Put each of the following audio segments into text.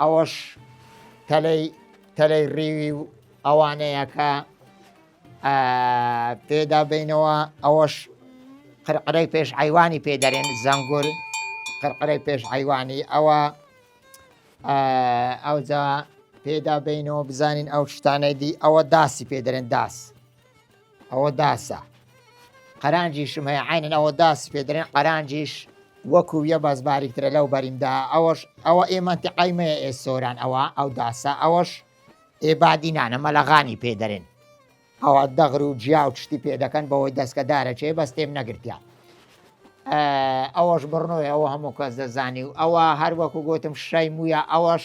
ئەوەش تەلەی تەلەی ڕیوی و ئەوانەیە کە پێدا بینەوە ئەوەش قرقرەی پێش عیوانی پێ دەرێن زەنگور قرقرەی پێش عیوانی ئەوە ئەوجا پێدا بینەوە بزانین ئەو شتانەی دی ئەوە داسی پێ دەرێن داس ئەوە داسە قەرانجیشم هەیە عینەن ئەوە داس پێ درێن قەرانجیش وەکو یە باز باریکترە لەو بەریمدا ئەوەش ئەوە ئێمەتی قایمەیە ئێ سۆران ئەوە ئەو داسە ئەوەش ئێبادینانە مەلەغانی پێ دەرێن ئەوە دەغر و جیا و شتی پێ دەکەن بەوەی دەستکەدارە چێ بەس تێم نەگرتیان ئەوەش بڕنەوەی ئەوە هەموو کەس دەزانی و ئەوە هەر وەکو گوتم شای مویە ئەوەش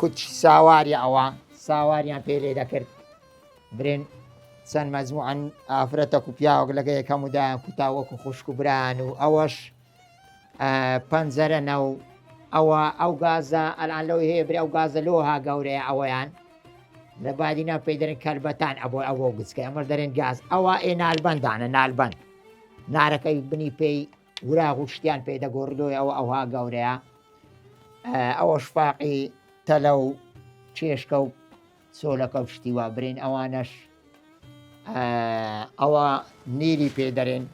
کچ ساواری ئەوە ساواریان پێ لێ دەکرد برێن چەند مەزموعەن ئافرەتەک و پیاوەک لەگە یەکەم و دایان کوتا وەکو خوشک و بران و ئەوەش پەنجەرە نە و ئەوە ئەو گازە ئەلان لەو هەیە برێ ئەو گازە لۆ ها گەورەیە ئەوەیان لە بادینا پێی دەرن کەلبەتان ئەبوو ئەوە گچکە ئەمەش دەرێن گاز ئەوە ئێ نالبندانە نالبند نارەکەی بنی پێی وراغ و شتیان پێ دەگۆڕدۆی ئەوە ئەوها گەورەیە ئەوە شفاقی تەلە و چێشکە و سۆلەکە و شتی وا برین ئەوانەش ئەوە نیری پێدەرێن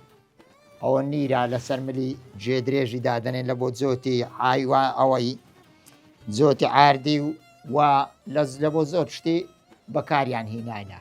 ئەوە نیرا لەسەر ملی جێ درێژی دادنێن لە بۆ جۆتی ئایوا ئەوەی جۆتی ئاردی و و لەز لە بۆ زۆر شتی بەکاریان هینایە